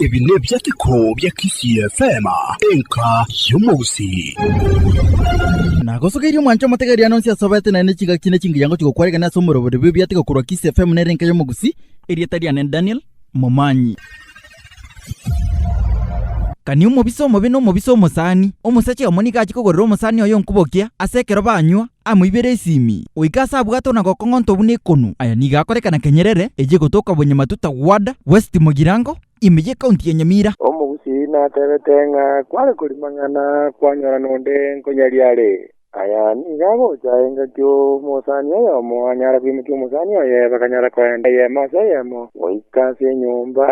Ebi nebiateko bia Kisii FM, enka y'omogusii. Nagosogeirie omwancho omotegeria nonsi asobete naende chigaki ne chingiyango chigokwaregena ase omorobori bw'ebiateko korwa Kisii FM nere enka y'omogusii. Erieta riane Daniel. momanyi. Kani omobisa omobe na omobisa omosani, omosacha oyomo nigo achie kogorera omosani oye onkubokia ase ekero banywa, amoibere esimi, goika ase abwate ona gokong'onto buna ekonu. Aya nigo akorekana kenyerere echia gotoka Bonyamatu Tawada, West Mugirango, ime ye county ya Nyamira. Omogusii natebete ng'a kware korimang'ana kwanyora nonde nkonyariare. Aya nigo agocha engaki omosani oyomo anyara koimokia omosani oye, bakanyara koenda eyemo ase eyemo, goika ase enyomba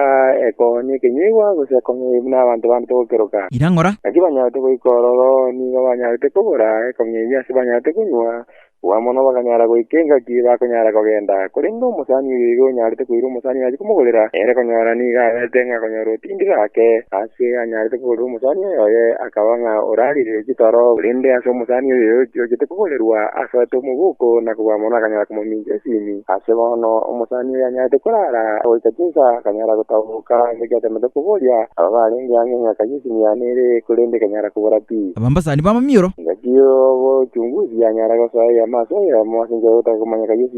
ekonywa ekenyuigwa gose ekonywa ebibe buna abanto bande togokeroka. Irang'ora. Naki banyarete goika ororo, nigo banyarete kogora ekonywa eyio ase banyarete konywa, bwa mono bakanyara goika engaki bakonyara kogenda. Korende omosani oyo iga onyarete koira omosani nache komogorera, ere konyora nigo arete ng'a akonyora otiga. Ringiro ake ase anyarete kogorerwa omosani oyoye akaba ng'a orariire chitoro, korende ase omosani oyoye ochiete kogorerwa, asoete omoboko na kobua mono akanyara komomincha esimi. Ase bono omosani oyo anyarete korara goika chinsa akanyara gotaboka ase ekiatemete koboria aba barenge ang'e ng'a kayio esimi yane ere, korende ekanyara kobora pi. Abambasani b'amamioro. Engaki y'obochunguzi yanyara gosoa eyemo ase eyemo ase enchera y'ogotaka komanya kayio esimi.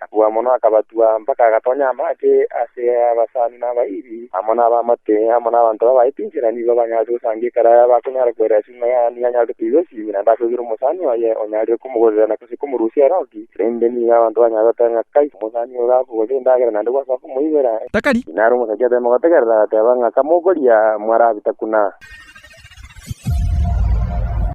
Akabua mono, akabatua, mpaka agatonya amache ase abasani na abaibi, amo nabamate, amo nabanto babaye chinchera, nigo banyarete gosangia ekero bakonyara koira ase ing'oya yaye, nigo anyarete koigwa esimi, naende akoigera omosani oye onyarire komogorera na gose komorusia ere oki, erinde nigo abanto banyare goteba ng'a kai, omosani oyo gakogorera endagera naende gwasoa komoibera. Takari. Naro omosacha atema gotegerera, agateba ng'a kamokoria, mwarabita kuna.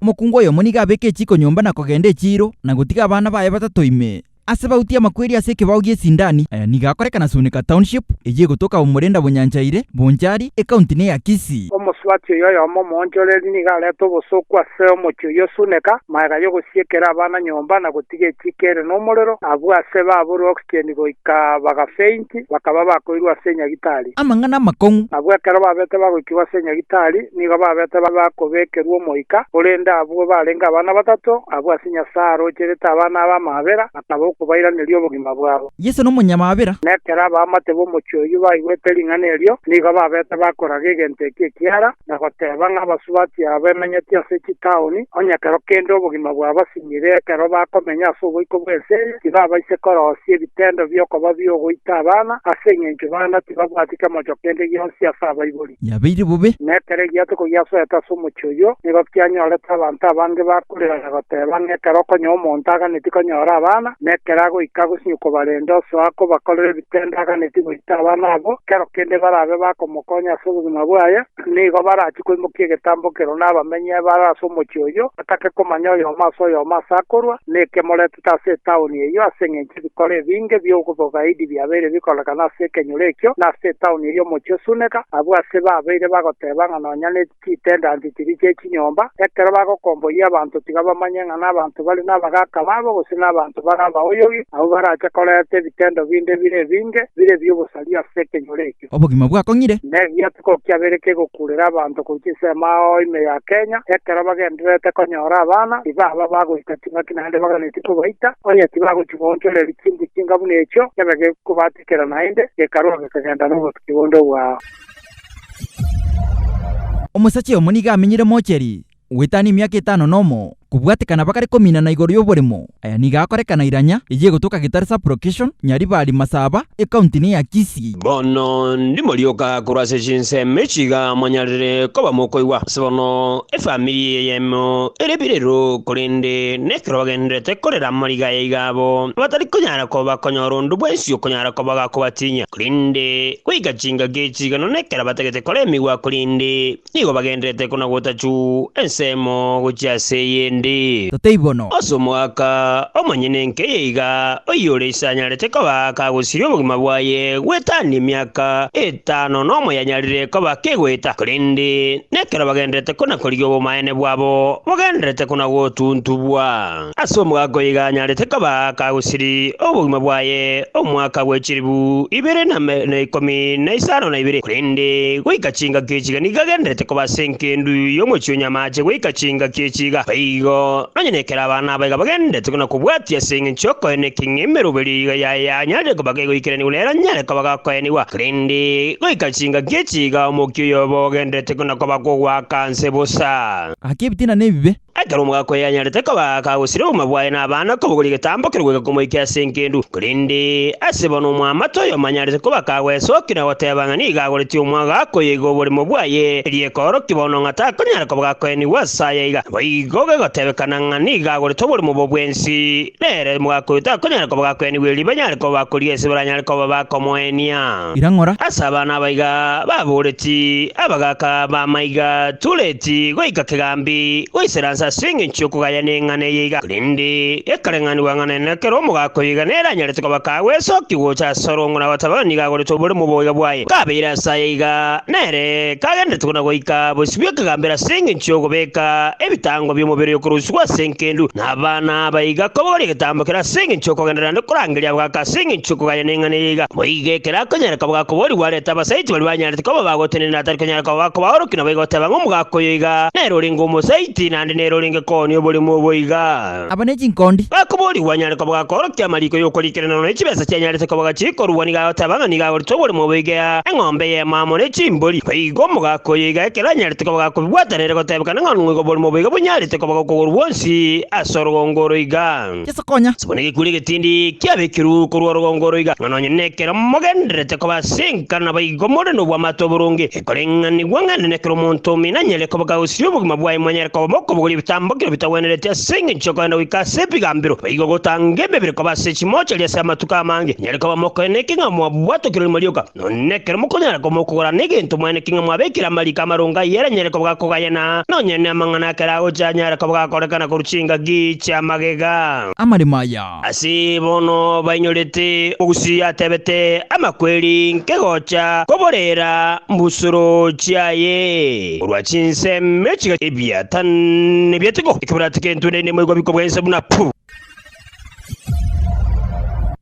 Omokungu oyomo nigo abeke echiiko nyomba na kogenda echiiro, na gotiga abana baye batato ime. Ase bautie amakweri ase ekebao gi'esindani, aya nigo akoreka na Sunika Township, eyio egotoka Omorenda Bonyanchaire, Bonchari, ecounty ne ya Kisii. Omosubati oyio oyomo omoonchoreri nigo arete obosooku ase omochie oyio Sunika, magega y'ogosiekera abana nyomba na gotiga echiika ere nomorero, abwo ase baaborwe oxygen goika bagafaint. Naki bakaba bakoirwe ase enyagitari. Amang'ana amakong'u. Abwo ekero babete bagoikigwa ase enyagitari, nigo babete bakobekerwa omoika, korende abwo barenge abana batato, abwo ase Nyasae arocherete abana aba amaabera, akaba okobairaneria obogima bwabo. Yeso nomonyamaabera. Na ekero abaamate b'omochie oyio baigwete ring'ana erio, nigo babete bakoraga egento ekio ekiara. na goteba ng'a abasubati aba bamenyeti ase chitaoni, onye ekero kende obogima bwabasinyire ekero bakomenya ase oboiko bw'ense eye, tibabaise korosia ebitendo bi'okoba bi'ogoita abana, ase engencho bana tibabwati kemocho kende gionsi ase abaibori. Yabeire bobe. Na ekero egiatoko giasoete ase omochie oyio, nigo kianyorete abanto abange ba. Korera na goteba ng'a ekero okonywa omonto aganeti konyora abana, na ekero agoika gosinywa kobarenda osoa kobakorera ebitende aganeti goita abana abwo, kero kende barabe bakomokonya ase obogima bwaye, nigo barachie koimokia egetambo kero na abamenyi bare ase omochie oyio, batake komanya oyomo ase oyomo ase akorwa, na ekemoretete ase etaoni eyio, ase engencho ebikore ebinge bi'obogaidi biabeire bikorekana ase ekenyoro ekio, na ase etaoni eyio omochie o Suneka, abwo ase babeire bagoteba ng'a nonya ne. chitendanti chiria chie chinyomba, ekero bagokomboria abanto tiga bamanye ng'a nabanto bare nabagaaka babo gose nabanto bare abaoyogi, abwo barache koreta ebitendo binde bire ebinge, bire bi'obosaria ase ekenyoro ekio. Obogima bwakong'ire. Negiatuko kiabere kegokurera abanto korwa chinsemo ao ime ya Kenya, ekero bagendererete konyora abana, tibaba bagoita ching'aki naende baganetie kobaita, onye tibagochia goonchoreria chinguru chinga buna echio, kebe gekobatikera naende, gekarwa gekagenda nobotuki bonde obwao. Omosacha oyomo nigo amenyire moocheri gwetana emiaka etano nomo, kobwatekana bagare kominana igoro y'oboremo. Aya nigo akorekana iranya eye egotoka Gitare Sub-Location, Nyaribari, Masaba, Ekaunti ne ya Kisii. Bono ndimorioka korwa ase chinsemo echi iga mwanyarire koba mokoigwa. Ase bono efamiri eyemo ere birero, korende nekero bagendererete korera amariga aya iga abo abatari konyara koba bakonyora onde bwensi okonyara koba gakobatinyia. Korende goika chingaki echi igano nekero batagete koremigwa korende nigo bagendererete konagotachu ensemo gochia ase eyende. Totebe bono. Ase omogaka omonyene nkeiyo iga, oyio ore ise anyarete koba kagosiria obogima bwaye gwetania emiaka etano nomo yanyarire koba kegoeta, korende nekero bagendererete konakorigia obomaene bwabo bogendererete konagotuntubwa. Ase omogaka oiga anyarete koba kagusiri obogima bwaye omwaka bwe chilifu ibere na na ikomi na isano na ibere, korende goika chingaki echi iga nigo agendererete koba ase engendu y'omochie o nyamache goika chingaki echi iga. Boigo, nonya nekero abana aba iga bagendererete na kobwatia ase engencho y'okoena ekeng'e emeroberio ye iga yaye anyarire koba kegoikeraniwa nere anyare koba gakoenigwa, korende goika chingaki echi iga omokia oyoba ogendererete na koba kogoaka nse bosa. Gaki ebitina nebibe, Ekero omogaka oye anyarete koba akagosire obogima bwaye na abana kobogoria egetambo keria goika komoikia ase engendu, korende ase bono omwamate oyo omanyarete koba akagwesokia na goteba ng'a nigo agoretie omwagaaka oyo iga oborimo bwaye, erio ekoorokia bono ng'a takonyara koba gakoenigwa ase aye iga. Naboigo gegotebekana ng'a nigo agorete oborimo obo bwensi, nere omogaka oyo takonyara koba gakoenigwa erio banyare koba bakorigia ase baranyare koba bakomoenia. irang'ora. Ase abana aba iga baboreti, abagaaka b'amaiga, Tureti goika kegambi goisera nse ase engencho y'okogaya neng'ana eye iga, korende gekareng'anigwa ng'a naende ekero omogaaka oyo iga nere anyarete koba kagwesokia gocha ase ore ong'wana wa Tabeoni nigo agorete oboremu boiga bwaye. Kabeire ase aya iga, nere kagenderete buna goika bosibwa ekegambero ase engencho y'ogobeeka ebitango bi'omobere oyokorusigwa ase enkendu. na abana aba iga kobogoria egetambo keria ase engencho y'okogenderera naende korangeria abagaaka ase engencho y'okogania neng'ana eria iga. Boigo ekero akonyara koba gakoboorigwa arete abasaiti baria banyarete koba bagotenena atari konyara koba gakobaorokia naboigo oteba ng'a omogaaka oyo iga nere orenge omosaiti naende nere orenge koonia oboremu obo iga. Aba ne chinkondi. Gakoboorigwa anyare koba gakoorokia amariiko y'okorikerera nonya chibesa chianyarete koba gachikorugwa nigo agoteba ng'a nigo agoreta oboremu obo iga, eng'ombe y'emaa amo ne chimbori. Boigo omogaaka oyo iga ekero anyarete. Tikobaga kobibwata nere gotebekana ng'a nigo borimo boiga bonyarete koba gokogoro gwonsi ase orogongo oro iga. Yeso konya. Ase buna egekungu egetindi kiabekirwe korwa orogongo oro iga, ng'a nonye nekero mogendererete koba ase enka naboigo more nobwamato oboronge, ekoreng'anigwa ng'a nene kera omonto omino anyare koba kagosiria obogima bwaye monyare koba mokobogoria ebitambo kiro bitagwenereti ase engencho y'okogenda goika ase ebigambero, boigo gotanga emebere koba ase chimochari ase amatuko amange, nyare koba mokoeneke ng'a mwabwatokire rimo rioka. Nonye ekero mokonyara komokogora negento mwane king'a mwabekire amariko amarongo ayio eranyare kobaga kogayana, nonye namang'ana akere agocha anyare kobaga korekana korwa chingaki chia magega. Amaremo aya. Ase bono bainyorete ogusii atebete amakweri nkegocha koborera mbusuro chiaye korwa chinsemi chiga ebiatane biatigwo ekebirati kentwe naende moigwa bikobwensa buna puu.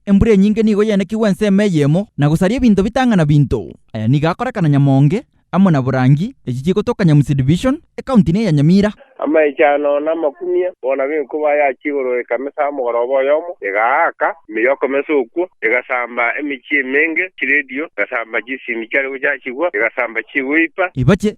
Embura enyinge nigo yaenekigwe ensemo eyemo na gosaria ebinto bitang'ana binto. Aya nigo akorekana Nyamonge amo na Borangi, echi chigotoka Nyamusi Division, ekaunti ne ya Nyamira. Amaicho ano namakumia, bono ab'enkuba ayachia igoro ekamesa omogoroba oyomo, egaaka emeyo okomesa okwo, egasamba emechie emenge, chiredio, egasamba chisimi chiare gochachigwa, egasamba chigoipa. Ebache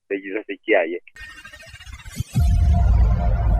nechisase chiaye.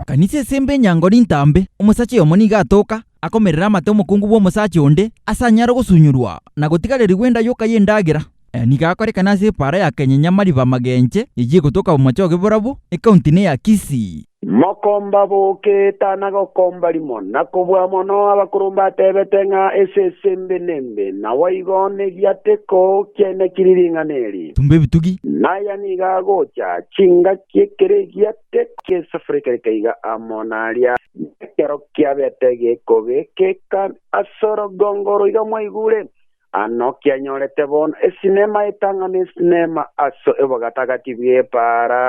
Kanisa esembe enyango nintambe, omosacha oyomo nigo atoka, akomerera amate omokungu bw'omosacha onde, ase anyare ogosunyorwa, na gotigarerigwa enda yoka y'endagera. Aya nigo akorekana ase epaara ya Kenyenyamaribamagenche, eyio egotoka Bomachoge Borabu, ekaunti neya Kisii. Mokomba boke etana gokomba rimo, na kobua mono abakoro mbatebete ng'a esese embe nembe, naboigo negiateko kiane kiri ring'ana eri. Tumba ebitugi. Naya nigo agocha, chingaki ekero egiateko ki'esafuri kerika iga amo naria, nekero kiabete gekobe, keka as'orogongo roiga mwaigure, Ano kianyorete bono esinema etang'ana esinema ase obogatagati bw'ebaara.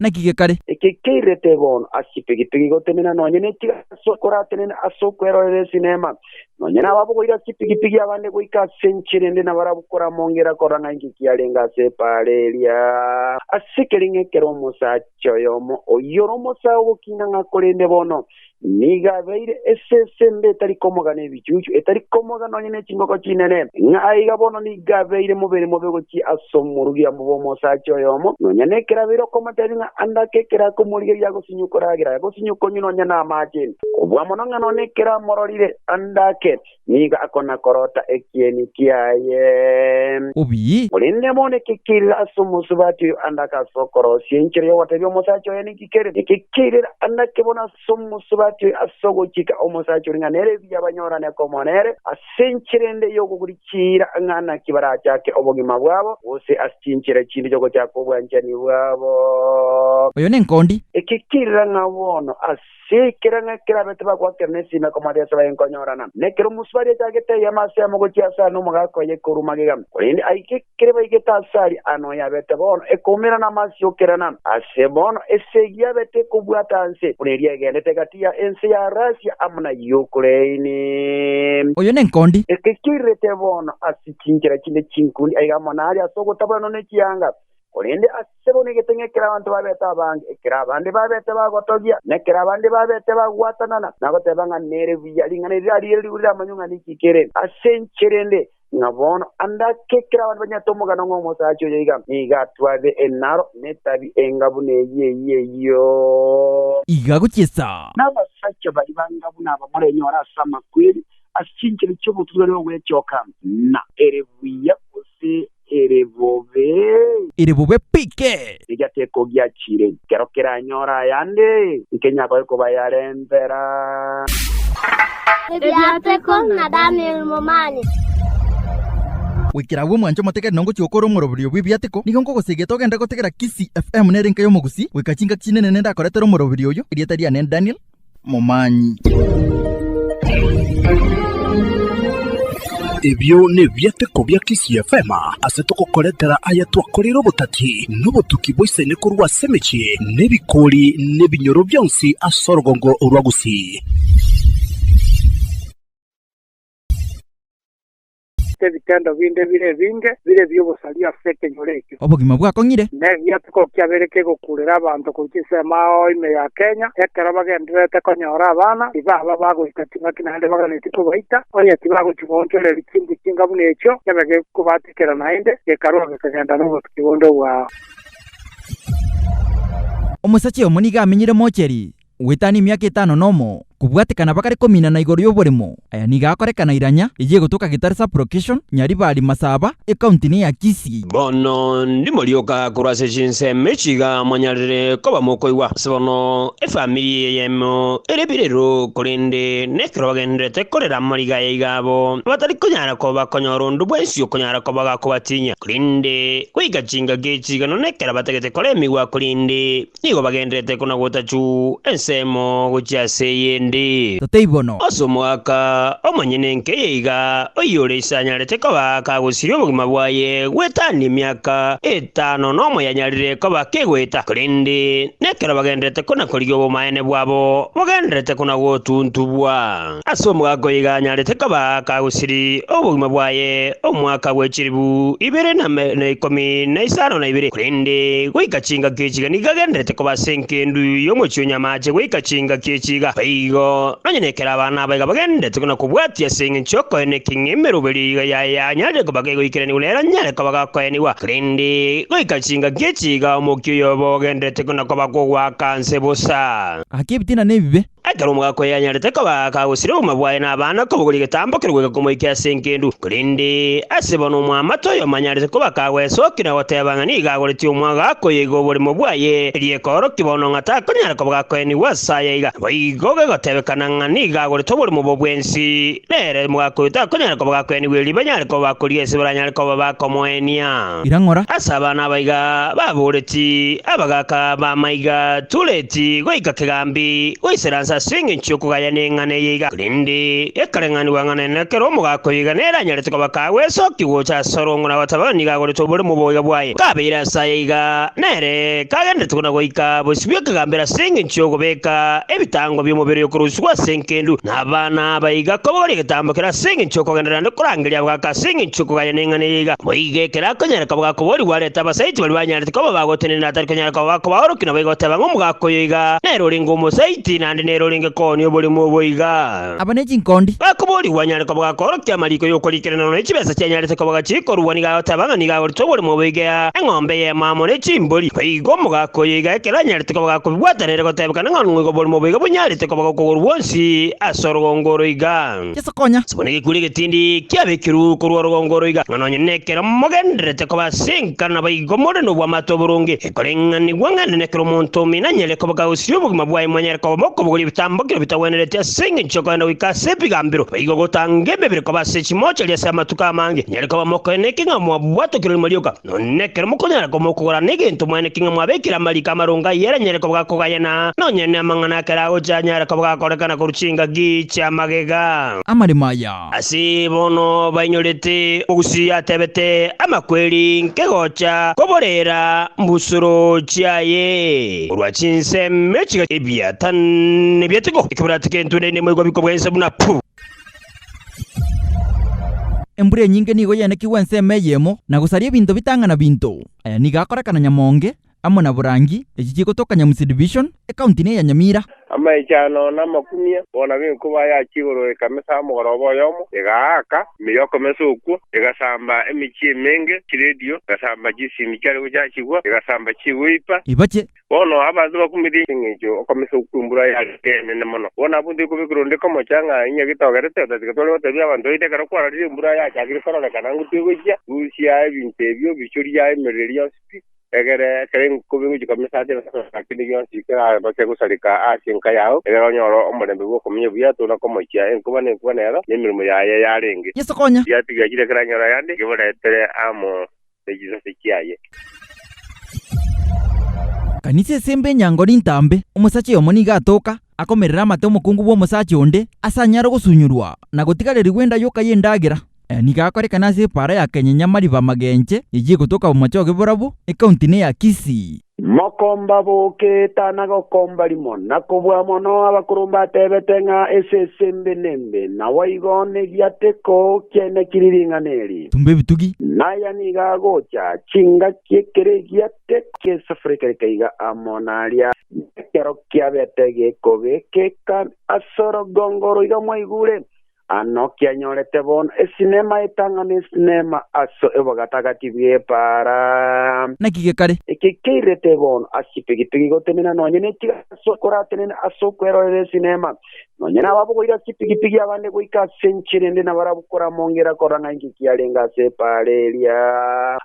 Naki gekare? Eke keirete bono ase chipigipigi gotenena nonya nechiga ase okoratenena ase okwerorera esinema. Nonya nababogoire ase chipigipigi abande goika ase enchera ende na barakoramongera korora ng'a inki kiarenge ase ebaara eria. Ase ekereng'a ekero omosacha oyomo oyio ore omosae ogokina ng'a korende bono Nigo abeire esese ende etari komoga nebichuchu, etari komoga nonya ne chingoko chinene, ng'a aiga bono nigo abeire mobere mobe gochia ase omorugia mobe omosacha oyomo, nonya nekero abeire okomotebia ng'a ande ake ekero akomorigereria agosinywa koragera, agosinywa konywa nonya namaache. Kobua mono ng'a nonye ekero amororire ande ake, nigo akona-korota ekieni kiaye. Obi. Korende bono ekekeirera ase omosubati oyo andake ase okorosia enchera y'ogotebia omosacha oye ninki kere, ekekeirera andake bono ase omosubati oyo ase ogochika omosacha oria ng'a nere mbuya banyorane komoa nere, ase enchera ende y'okoguri chiira ng'a naki barachake obogima bwabo, gose ase chinchera chinde chi'ogochaka obwanchani bwabo. Oyo nenkondi. Ekekeirera ng'a bono ase. Ase ekero ng'a kerabete bagwakire na esime komoata ase abaye nkonyorana, na ekero omosubari achagete eyemo ase yamo gochia ase aare n'omogaka oye ekorua magega, korende aike ekere baigete ase aria aa noyo abete bono ekoumera na amasio okerana. Ase bono esegi yabete ekobwata anse, buna eria egendete egati ya ense ya Rasia amo na Yukraini. Oyo nenkondi. Eke kiairerete bono ase chinchera chinde chinkundi aiga amo nare ase ogotaboranwa ne chianga, Korende ase bono egeteng'a ekero abanto babete abange, ekero abande babete bagotogia, na ekero abande babete bagwatanana, nagoteeba ng'a nere buya ring'ana eri rariire rigure riramanywe ng'a ninki kere ase inche rende, ng'a bono ande ake ekero abanto banyarete omogano ng'a omosacha oyo aiga, nigo atware enaro na etabi enga buna eyio eyio eyio. Iga gochiesa. Na abasacha baria banga buna aba morenyore ase amakweri, ase chinchera chi'obotuturani ogwechoka, na ere buya gose. ere bobe? Ere bobe pike! Eria tekogiachire, ekero keranyore ayande, nkenyagoe kobayarentera. Ebiateko na Daniel Momani. Goikera agwo mwanche omotegete na ngochia gokora omoroberio bw'ebiateko, nigo nkogosegeta ogende gotegera Kisii FM nere enka y'omogusii, goika chingaki chinene nende akoretera omoroberio oyo, erieta riane Daniel, momanyi. Ebio nebiateko bia TCFM ase togokoretera aya twakoreire obotati na obotuki bwa isaine korwa ase emechie na ebikori na ebinyoro bionsi ase orogongo rwa Gusii. Ebitendo binde bire ebinge bire ebi'obosaria ase ekenyoro ekio. Obogima bwakong'ire. Negiatiko kiabeire kegokurera abanto goika ensemo ao ime ya Kenya, ekero bagendererete konyora abana tibaba bagoita ching'aki naende baganetie kobaita, onye tibagochia goonchoreria chinguru chinga buna echio, kiabe gekobatikera naende gekarua gekagenda nobotuki bonde bwao. Omosacha oyomo nigo amenyire Mocheri. goetania emiaka etano nomo, kobwatekana bagare kominana igoro y'oboremo. Aya nigo akorekana iranya eye egotoka Gitare Sub-Location, Nyaribari, Masaba, Ekaunti ne ya Kisii. Bono ndimorioka korwa ase chinsemo echi iga mwanyarire koba mokoigwa. Ase bono efamiri eyemo ere birero, korende nekero bagendererete korera amariga aya iga abo abatari konyara koba bakonyora onde bwensi okonyara koba gakobatinyia. Korende goika chingaki echi iga nono ekero batagete koremigwa korende. Nigo bagenderete konagota chuu ensemo gochia ase eyende. Totei bono. Ase omwaka omonyene nkeiyo iga, oyio ore ise anyarete koba kagosiria obogima bwaye gwetania emiaka etano nomoyanyarire koba kegoeta, korende nekero bagenderete konakorigia obomaene bwabo, bogenderete konagotuntubwa. Ase omogaka oiga anyarete koba kagusiri obogima bwaye omwaka bwe chilifu ibere na na ikomi na isano na ibere, korende goika chingaki echi iga nigo agendererete koba ase engendu y'omochie o nyamache goika chingaki echi iga. Boigo, nonya nekero abana aba iga bagendererete na kobwatia ase engencho y'okoena ekeng'e emeroberio ye iga yaye anyarire koba kegoikeraniwa nere anyare koba gakoenigwa, korende goika chingaki echi iga omokia oyoba ogendererete na koba kogoaka nse bosa. Gaki ebitina nebibe, Ekero omogaka oyo anyarete koba akagosire obogima bwaye na abana kobogoria egetambo keria goika komoika ase engendu, korende ase bono omwamate oyo omanyarete koba akagwesokia na goteba ng'a nigo agoretie omogaka oyo iga oborimo bwaye, erio ekoorokia bono ng'a takonyara koba gakoenigwa ase aya iga. Naboigo gegotebekana ng'a nigo agorete oborimo obo bwensi, nere omogaka oyo takonyara koba gakoenigwa erio banyare koba bakorigia ase baranyare koba bakomoenia. irang'ora. Ase abana aba iga baboreti, abagaaka b'amaiga, Tureti goika kegambi goisera nse ase engencho y'okogaya neng'ana eye iga, korende gekareng'anigwa ng'a nere na kera omogaaka oyo iga nere anyarete koba kagwesookia gocha ase ore ong'ora gotabe onye nigo agoretwe oboremu oboiga bwaye. Kabeire ase aya iga, nere kagenderete buna goika bosibie kegambi ere ase engencho y'ogobeeka ebitango bi'omobere oyo okorusigwa ase enkendu. na abana aba iga kobogoria egetambo keria ase engencho y'okogenderera naende korangeria abagaaka ase engencho y'okogania neng'ana eria iga. Boigo ekero akonyara koba gakoboorigwa arete abasaiti baria banyarete koba bagotenena atari konyara koba gakobaorokia naboigo oteba ng'a omogaaka oyo iga nere orenge omosaiti naende nere orenge koonia oboremu obo iga. Aba ne chinkondi. Gakoboorigwa anyare koba gakoorokia amariiko y'okorikera nono ne chibeesa chianyarete koba gachikorugwa nigo agoteba ng'a nigo agorete oboremu obo iga, eng'ombe y'emo amo ne chimbori. Boigo omogaaka oyo iga ekero anyarete. Tikobaga kobibwata nere gotebekana ng'a nigo borimo boiga bonyarete koba gokogoro gwonsi ase orogongo oro iga. Yeso konya. Ase buna egekungu egetindi kiabekirwe korwa orogongo oro iga, ng'a nonye nekero mogendererete koba ase enka naboigo more nobwamato oboronge, ekoreng'anigwa ng'a nene kera omonto omino anyare koba kagosiria obogima bwaye monyare koba mokobogoria ebitambo kiro bitagwenereti ase engencho y'okogenda goika ase ebigambero, boigo gotanga emebere koba ase chimochari ase amatuko amange, nyare koba mokoeneke ng'a mwabwatokire rimo rioka. Nonye ekero mokonyara komokogora negento mwane king'a mwabekire amariiko amarongo ayio eranyare kobaga kogayana, nonye namang'ana akere agocha anyare kobaga korekana korwa chingaki chia magega. Amaremo aya. Ase bono bainyorete ogusii atebete amakweri nke gocha koborera mbusuro chiaye korwa chinsemo chiga ebiatane biatigwo, ekebirati kentwe naende moigwa bikobwensa buna puu. Embura enyinge nigo yaenekigwe ensemo eyemo na gosaria ebinto bitang'ana binto. Aya nigo akorekana Nyamonge amo na Borangi, echi chigotoka Nyamusi Division, ekaunti neye ya Nyamira. Amaicho ano namakumia, bono ab'enkuba ayachia igoro ekamesa omogoroba oyomo, egaaka emeyo okomesa okwo, egasamba emechie emenge, chiredio, egasamba chisimi chiare gochachigwa, egasamba chigoipa. Ebache Bono abanto bakumete engencho okomesa okw'embura yagete enene mono. Bono abwo tikobekirwe onde komocha ng'a inye getogerete, otatiga tware gotebia abanto baito ekero kwararire embura yachakire kororekana ngotue gochia, rusia ebinto ebio, bichoria emeriri yonsi pi, egere ekero enkuba egochia komesa ase ebinto bionsi na kende gionsi kerabase gosareka ase enka yao, egere onyore omorembe bw'okomenya buya tona komochia enkuba na enkuba nero, nemeremo yaye yarenge. Yeso konya. Yatiga chire kera nyora yande, yeburetere amo. ne chisase chiaye. Kanisa esembe enyango nintambe, omosacha oyomo nigo atoka, akomerera amate omokungu bw'omosacha onde, ase anyare ogosunyorwa, na gotigarerigwa enda yoka y'endagera. Aya nigo akorekana ase epaara ya Kenyenyamaribamagenche, eyio egotoka Bomachoge Borabu, ekaunti neya Kisii. Mokomba boke etana gokomba rimo, na kobua mono abakurumba atebete ng'a esese embe nembe, naboigo negiateko kiane kiri ring'ana eri. Tumba ebitugi. Naya nigo agocha, chingaki ekero egiateko ki'esafuri kerika iga amo naria, nekero kiabete gekobe keka as'orogongo roiga mwaigure, Ano kianyorete bono esinema etang'ana esinema ase obogatagati bw'epaara. Naki gekare? Eke keirete bono ase chipigipigi gotenena nonya nechiga ase okoratenena ase okwerorera esinema. Nonya nababogoire ase chipigipigi abande goika ase enchera ende na barakoramongera korora ng'a inki kiarenge ase epaara eria.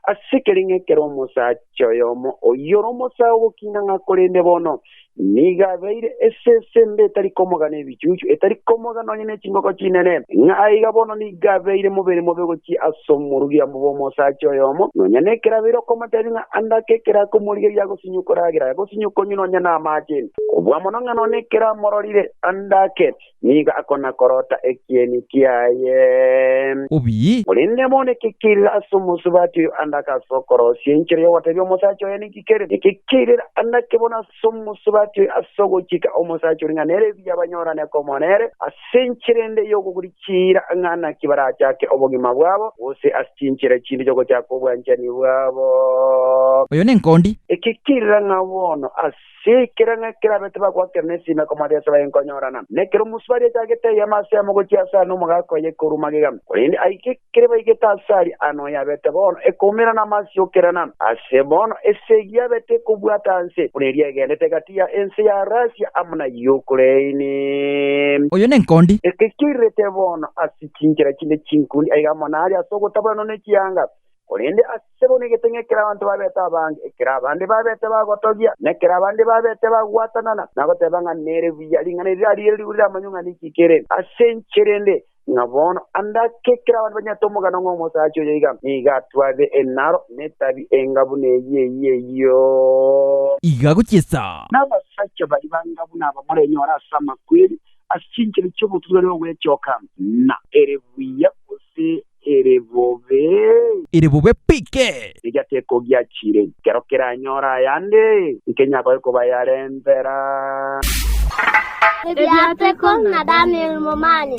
Ase ekereng'a ekero omosacha oyomo oyio ore omosae ogokina ng'a korende bono Nigo abeire esese ende etari komoga nebichuchu, etari komoga nonya nechingoko chinene, ng'a aiga bono nigo abeire mobere mobe gochia ase omorugia mobe omosacha oyomo, nonya nekero abeire okomotebia ng'a ande ake ekero akomorigeria agosinywe koragera, agosinywe konywa nonya namaache. Kobua mono ng'a nonya ekero amororire ande ake, nigo akona-korota ekieni kiaye. Obi. Korende bono ekekeirera ase omosubati oyo andake ase okorosia enchera y'ogotebia omosacha oye ninki kere, ekekeirera andake bono ase omosubati oyo ase ogochika omosacha oria ng'a nere mbuya banyorane komoa nere, ase enchera ende y'okoguri chiira ng'a naki barachake obogima bwabo, gose ase chinchera chinde chi'ogochaka obwanchani bwabo. Oyo nenkondi. Ekekeirera ng'a bono ase. Si kera ng'a kerabe tibagwakera nesime komoa riase bayenkonyorana, na ekero omosubari achagete eyiema ase yamo gochia ase aria nomogaka oye ekorwa magega, korende aike ekere baigete ase aria aa noyo abete bono ekoumera na amasio okerana. Ase bono esegi yabete ekobwata anse, buna eria egendete egati ya ense ya Rasia amo na Yukraini. Oyo nenkondi. Eke kiairete bono ase chinchera chinde chinkundi aiga amo naria ase ogotaboranwa ne chianga, Korende ase bono egeteng'a ekero abanto babete abange, ekero abande babete bagotogia, na ekero abande babete bagwatanana, nagoteeba ng'a nere buya ring'ana eri rariire rigure riramanywe ng'a ninki kere ase inche rende, ng'a bono ande ake ekero abanto banyarete omogano ng'a omosacha oyo aiga, nigo atware enaro na etabi enga buna eyio eyio eyio. Iga gochiesa. Na abasacha baria banga buna aba morenyore ase amakweri, ase chinchera chi'obotuturani ogw'echoka, na ere buya gose. ere bobe? Ere bobe pike! Eria tekogiachire, ekero keranyore ayande, nkenyagoe kobayarentera. Ebiateko na Daniel Momani.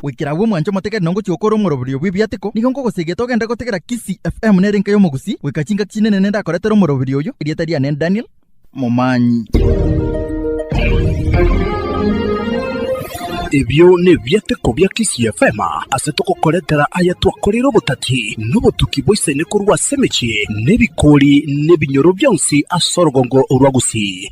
Goikera agwo mwanche omotegete na ngochia gokora omoroberio bw'ebiateko, nigo nkogosegeta ogende gotegera Kisii FM nere enka y'omogusii, goika chingaki chinene nende akoretera omoroberio oyo, erieta riane Daniel, momanyi. Ebio nebiateko bia Kisii FM ase togokoretera aya twakoreire obotati na obotuki bwa isaine korwa ase emechie na ebikori na ebinyoro bionsi ase orogongo rwa Gusii.